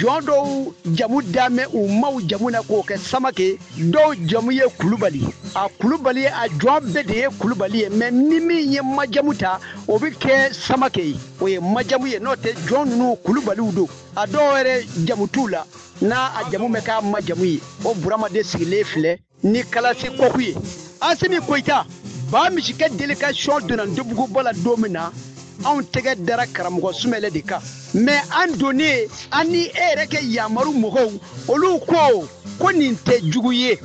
jɔn dɔw jamu dame u maw jamu na k'o kɛ samakɛ dɔw jamu ye kulubali a kulubali ye a jɔn bɛɛ de ye kulubali ye mɛ ni min ye ma jamu ta o bɛ kɛ samakɛ ye o ye ma jamu ye n'o tɛ jɔn ninnu kulubaliw don a dɔw yɛrɛ jamu t'u la n'a a jamu mɛn k'a ma jamu ye o burama de sigilen filɛ ni kalasi kɔku ye asimi koyita ba misi kɛ delikasiyɔn donna ndobuguba la don min na anw tɛgɛ dara karamɔgɔ sumɛlɛ de kan mɛ an donnen an ni e yɛrɛ kɛ yamaru mɔgɔw olu ko ko nin tɛ jugu ye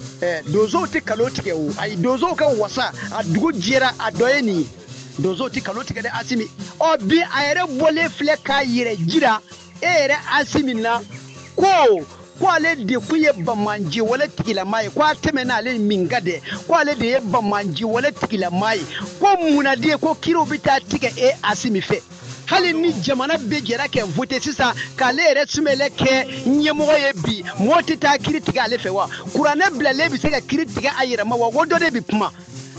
donsow tɛ kalon tigɛ o ayi donsow ka wasa a dugu jɛra a dɔ ye nin ye donsow tɛ kalon tigɛ dɛ asimi ɔ bi a yɛrɛ bɔlen filɛ k'a yɛrɛ jira e yɛrɛ asimi na ko ko ale de kun ye banbaanci wale tigilamaa ye ko a tɛmɛna ale min kan dɛ ko ale de ye banbaanci wale tigilamaa ye ko munna de ko kiriw bɛ taa tigɛ e asimi fɛ hali ni jamana bɛɛ jɛra kɛ vote sisan k'ale yɛrɛ sumɛlɛ kɛ ɲɛmɔgɔ ye bi mɔgɔ tɛ taa kiri tigɛ ale fɛ wa kuranɛ bilalen bɛ se ka kiri tigɛ a yɛrɛ ma wa o dɔ de bɛ kuma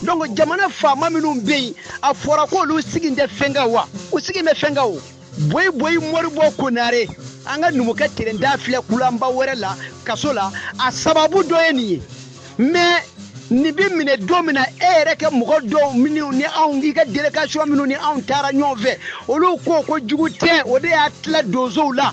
donc jamana faama minnu bɛ yen a fɔra k'olu sigi tɛ fɛn kan wa u sigi bɛ fɛn kan o boyi boyi moribɔ konare an ka numukɛ terenda filɛ kulanba wɛrɛ la kaso la a sababu dɔ ye nin ye mɛ nin bɛ minɛ don min na e yɛrɛ kɛ mɔgɔ dɔw minnu ni anw k'i ka delikasiyɔn minnu ni anw taara ɲɔgɔn fɛ olu ko ko jugu tɛ o de y'a tila donsow la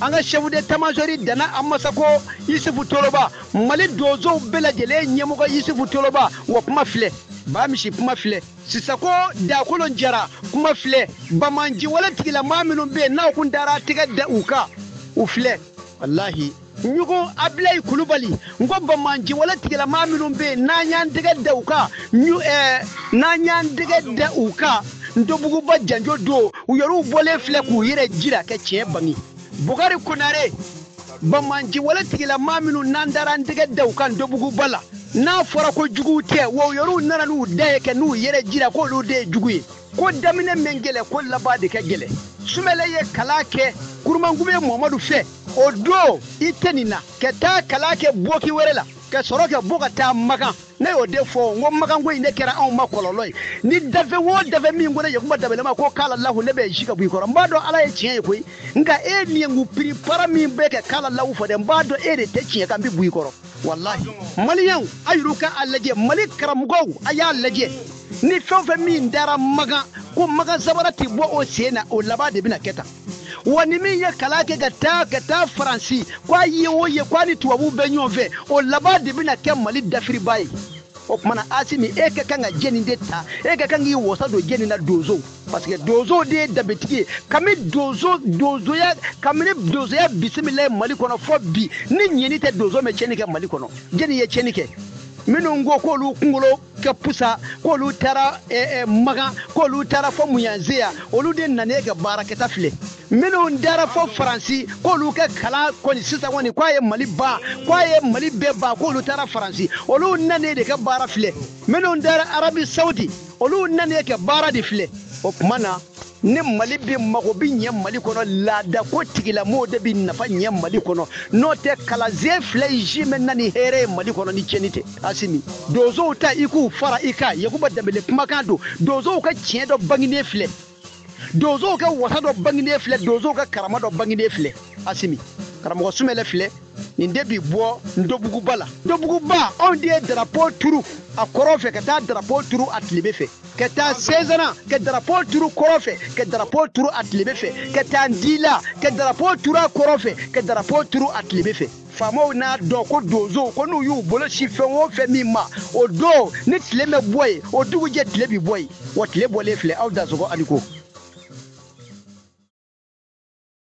an ka chef d'état-major dana amasako yusufu toloba mali donsow bɛɛ lajɛlen ɲɛmɔgɔ yusufu toloba wa kuma filɛ ba misi kuma filɛ sisako dakolo jara kuma filɛ banbaanci wale tigilamaa minnu bɛ yen n'an kun dara tɛgɛ da u kan u filɛ walahi ɲugu abilayi kulubali n ko banbaanci wale tigilamaa minnu bɛ yen n'an y'an tɛgɛ da u kan eh, n'an y'an tɛgɛ da u kan ntobuguba janjo don u yɛrɛw bɔlen filɛ k'u yɛrɛ jira kɛ tiɲɛ bange bukari konare banbaanci wale tigilamaa minnu n'an dara an tɛgɛ da u kan ntobuguba la n'a fɔra ko jugu tɛ wa u yɛrɛw nana n'u da ye kɛ n'u yɛrɛ jira k'olu de ye jugu ye ko daminɛ mɛn gɛlɛn ko laban de ka gɛlɛn sumɛlɛ ye kalan kɛ kurumankume mamadu fɛ o don i tɛ nin na ka taa kalan kɛ boki wɛrɛ la ka sɔrɔ ka bɔ ka taa makan ne y'o de fɔ n ko makanko in ne kɛra anw ma kɔlɔlɔ ye ni danfɛn o danfɛn min ko ne yakuba danbɛlɛ ma ko kala lahu ne bɛ se ka bɔ i kɔrɔ n b'a dɔn ala ye tiɲɛ ye koyi nka e min ye n piri para min bɛ kɛ kala lahu fɔ dɛ n b'a dɔn e de tɛ tiɲɛ kan n bɛ bɔ i kɔrɔ walahi maliyɛnw a ye wuli ka a lajɛ mali karamɔgɔw a y'a lajɛ ni fɛn o fɛn min taara makan ko makan sabara tɛ bɔ o sen na o laban de bɛna kɛ tan wa ni min ye kalan kɛ ka taa ka taa faransi k'a ye o ye k'a ni tubabuw bɛ ɲɔgɔn fɛ o laban de bɛna kɛ mali dafiribaa ye o kuma na asimi e ka kan ka jɛni de ta e ka kan k'i wasa don jɛni na donsow parce que donsow de ye danbetigi ye kami donso donsoya kamini donsoya bisimila ye mali kɔnɔ fɔ bi ni ɲɛni tɛ donsow mɛ tiɲɛni kɛ mali kɔnɔ jɛni ye tiɲɛni kɛ minnu ko k'olu kunkolo ka pusa k'olu taara eh, eh, makan k'olu taara fɔ munyanze ya olu de nane ka baarakɛta filɛ minnu taara fɔ faransi k'olu ka kalan kɔni sisan kɔni k'a ye mali ban k'a ye mali bɛɛ ban k'olu taara faransi olu nane de ka baara filɛ minnu taara arabi saudi olu nane ka baara de filɛ o kuma na ni mali bɛ mago bɛ ɲɛ mali kɔnɔ laadako tigilamɔgɔw de bɛ nafa ɲɛ mali kɔnɔ n'o tɛ kalansen filɛ jimɛn na ni hɛrɛ ye mali kɔnɔ ni tiɲɛni tɛ asimi donsow ta i k'u fara i kan yakuba danbele kumakan don donsow ka tiɲɛ dɔ banginen filɛ donsow ka wasa dɔ banginen filɛ donsow ka karama dɔ banginen filɛ asimi karamɔgɔ sumɛlɛ filɛ nin de bi bɔ ndobuguba la ndobuguba anw de ye darapo turu a kɔrɔ fɛ ka taa darapo turu a tilebe fɛ ka taa sezana ka darapo turu kɔrɔ fɛ ka darapo turu a tilebe fɛ ka taa ndila ka darapo turu a kɔrɔ fɛ ka darapo turu a tilebe fɛ faamaw n'a dɔn ko donsow ko n'u y'u bolo sin fɛn o fɛn min ma o don ni tile mɛ bɔ yen o dugujɛ tile bi bɔ yen o tile bɔlen filɛ aw dansɔgɔ a ni ko